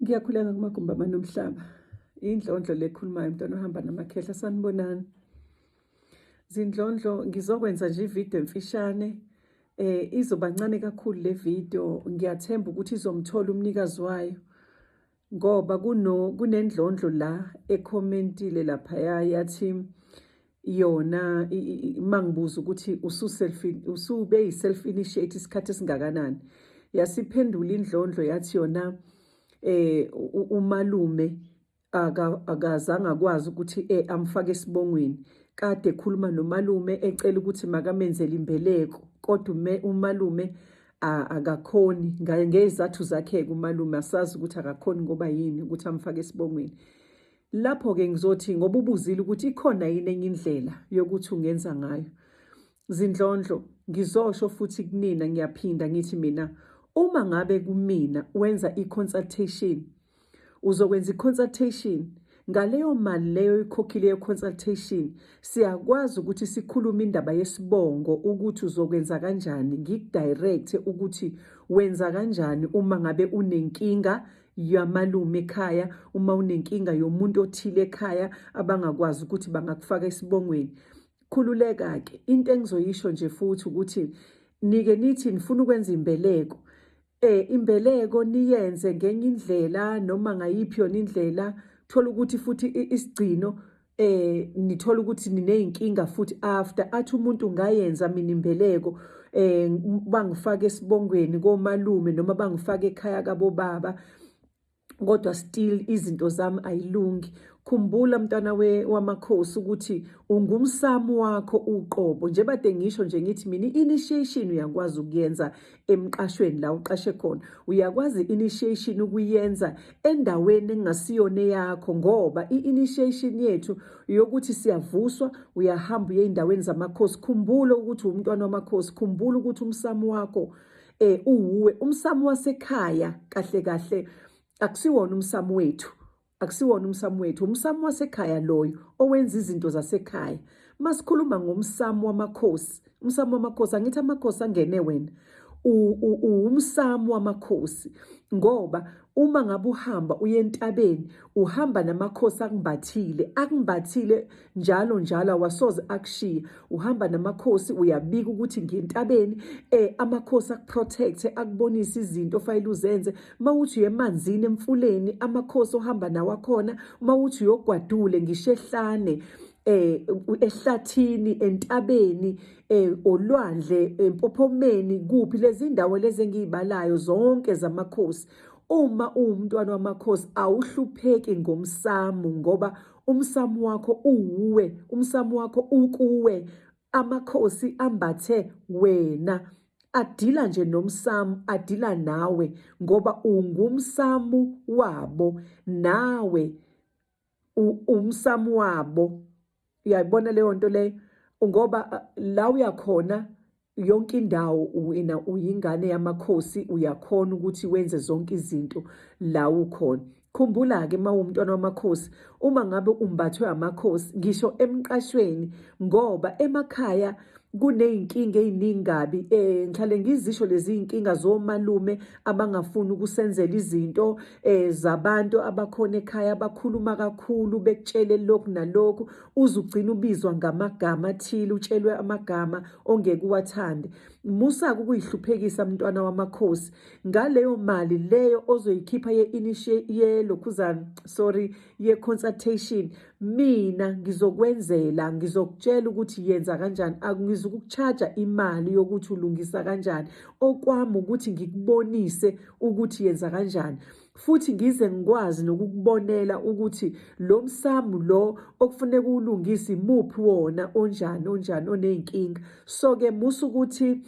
Ngiyakhuleka kumagumbi amanomhlaba. Indlondlo lekhulumayo mntwana ohamba namakhehla sanibonani. Zindlondlo ngizokwenza nje ivideo emfishane eh izobancane kakhulu le video ngiyathemba ukuthi izomthola umnikazi wayo ngoba kuno kunendlondlo la ecommentile lapha yathi yona mangibuza ukuthi usube yi-self initiate isikhathi esingakanani yasiphendula indlondlo yathi yona eh umalume akazange akwazi ukuthi eh, amfake esibongweni kade ekhuluma nomalume ecela ukuthi makamenzele imbeleko kodwa umalume akakhoni ngezathu zakhe-ke umalume asazi ukuthi akakhoni ngoba yini ukuthi amfake esibongweni Lapho-ke ngizothi ngoba ubuzile ukuthi ikhona yini enye indlela yokuthi ungenza ngayo. Zindlondlo, ngizosho futhi kunina ngiyaphinda ngithi mina uma ngabe kumina wenza i-consultation uzokwenza i-consultation ngaleyo mali leyo ikhokhile ye-consultation siyakwazi ukuthi sikhulume indaba yesibongo ukuthi uzokwenza kanjani ngikudirecte ukuthi wenza kanjani uma ngabe unenkinga yamalume ekhaya uma unenkinga yomuntu othile ekhaya abangakwazi ukuthi bangakufaka esibongweni khululeka ke into engizoyisho nje futhi ukuthi nike nithi nifuna ukwenza imbeleko eh imbeleko niyenze ngenye indlela noma ngayiphi yona indlela thola ukuthi futhi isigcino eh nithola ukuthi nineyinkinga futhi after athi umuntu ngayenza mina imbeleko eh bangifaka esibongweni komalume noma bangifaka ekhaya kabo baba kodwa still izinto zami ayilungi khumbula mntwana we wamakhosi ukuthi ungumsamo wakho uqobo njebade ngisho nje ngithi mina initiation uyakwazi ukuyenza emqashweni la uqashe khona uyakwazi initiation ukuyenza endaweni engasiyona yakho ngoba i-initiation yethu yokuthi siyavuswa uyahamba uye endaweni zamakhosi khumbulo ukuthi umntwana wamakhosi khumbulo ukuthi umsamo wakho eh uwuwe umsamo wasekhaya kahle kahle akusiwona umsamo wethu Akusiwona umsamo wethu, umsamo wasekhaya loyo owenza izinto zasekhaya. Masikhuluma ngomsamo wamakhosi, umsamo wamakhosi angithi amakhosi angene wena. Uwumsamo wamakhosi ngoba uma ngabe uhamba uye entabeni uhamba namakhosi akumbathile, akumbathile njalo njalo awasoze akushiye uhamba namakhosi uyabika ukuthi ngentabeni eh amakhosi akuprotect akubonisa izinto ofanele uzenze mawuthi uyemanzini emfuleni amakhosi ohamba nawo akhona mawuthi uyogwadule ngisho ehlane eh ehlathini entabeni eh olwandle empophomeni kuphi lezi ndawo lezi engiyibalayo zonke zamakhosi uma uwumntwana wamakhosi awuhlupheki ngomsamu ngoba umsamo wakho uwuwe umsamo wakho ukuwe amakhosi ambathe wena adila nje nomsamu adila nawe ngoba ungumsamu wabo nawe umsamu wabo uyayibona leyo nto leyo ngoba la uyakhona yonke indawo wena uyingane yamakhosi uyakhona ukuthi wenze zonke izinto la ukhona khumbula-ke uma uwumntwana wamakhosi uma ngabe umbathwe amakhosi ngisho emqashweni ngoba emakhaya kuney'nkinga ey'ningi kabi um eh, ngihlale ngizisho lezi y'nkinga zomalume abangafuni ukusenzela izinto um zabantu abakhona ekhaya abakhuluma kakhulu bekutshele lokhu nalokhu uze ugcine ubizwa ngamagama athile utshelwe amagama ongeke uwathande musa-ke ukuyihluphekisa mntwana wamakhosi ngaleyo mali leyo ozoyikhipha yelokhuzana sorry ye-consultation mina ngizokwenzela ngizokutshela ukuthi yenza kanjani angizukukuchaja imali yokuthi ulungisa kanjani okwami ukuthi ngikubonise ukuthi yenza kanjani futhi ngize ngikwazi nokukubonela ukuthi lo msamu lo okufuneka uwulungise imuphi wona onjani onjani oney'nkinga so-ke musa ukuthi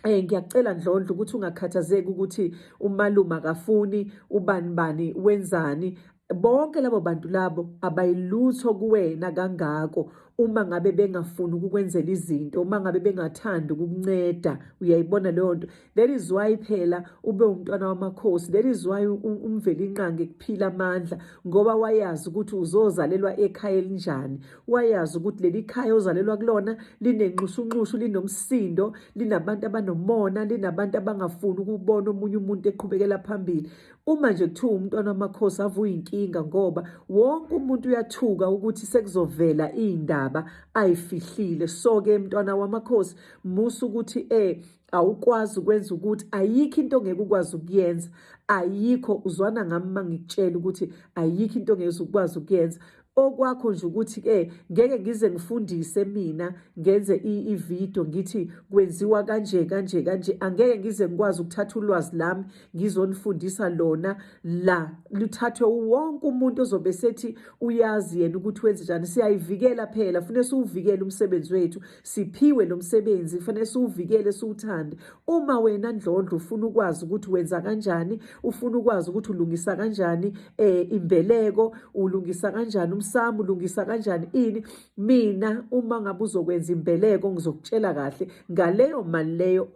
Eh ngiyacela Ndlondlo ukuthi ungakhathazeki ukuthi umalume akafuni ubani bani wenzani bonke labo bantu labo abayilutho kuwena kangako uma ngabe bengafuni ukukwenzela izinto uma ngabe bengathandi ukukunceda uyayibona leyo nto That is why phela ube umntwana wamakhosi. That is why umvelinqangi kuphila amandla ngoba wayazi ukuthi uzozalelwa ekhaya elinjani. Wayazi ukuthi leli khaya ozalelwa kulona linenxushunxushu, linomsindo, linabantu abanomona, linabantu abangafuni ukubona omunye umuntu eqhubekela phambili. Uma nje kuthiwa umntwana wamakhosi avuya inkinga ngoba wonke umuntu uyathuka ukuthi sekuzovela iy'ndaba ay'fihlile. So-ke mntwana wamakhosi musa ukuthi eh awukwazi ukwenza ukuthi ayikho into ongeke ukwazi ukuyenza ayikho uzwana ngami uma ngikutshela ukuthi ayikho into ongeke ukwazi ukuyenza okwakho nje ukuthi ke ngeke ngize ngifundise mina ngenze i-video ngithi kwenziwa kanje kanje kanje angeke ngize ngikwazi ukuthatha ulwazi lami ngizonifundisa lona la luthathwe wonke umuntu ozobe sethi uyazi yena ukuthi wenze njani siyayivikela phela fune siwuvikele umsebenzi wethu siphiwe lo msebenzi kufanele siwuvikele siwuthande uma wena ndlondlo ufuna ukwazi ukuthi wenza kanjani ufuna ukwazi ukuthi ulungisa kanjani eh imbeleko ulungisa kanjani umsamo ulungisa kanjani ini mina uma ngabe uzokwenza imbeleko ngizokutshela kahle ngaleyo mali leyo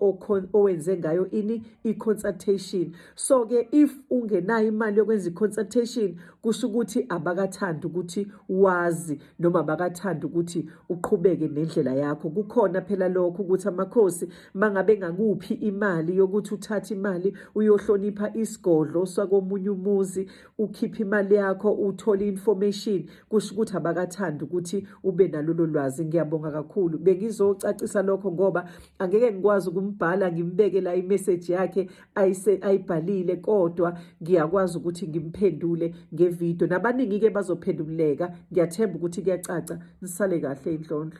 owenze ngayo ini i-consultation so ke if ungenayo imali yokwenza i-consultation kusho ukuthi abakathandi ukuthi wazi noma bakathanda ukuthi uqhubeke nendlela yakho kukhona phela lokho ukuthi amakhosi mangabe ngakuphi imali yokuthi uthathe imali uyohlonipha isigodlo sakomunye umuzi ukhiphe imali yakho uthole information kusho ukuthi abakathanda ukuthi ube nalolo lwazi ngiyabonga kakhulu bengizocacisa lokho ngoba angeke ngikwazi ukumbhala ngimbeke la imessage yakhe ayise ayibhalile kodwa ngiyakwazi ukuthi ngimphendule ngevideo nabaningi-ke bazophenduleka ngiyathemba ukuthi kuyacaca nisale kahle indlondlo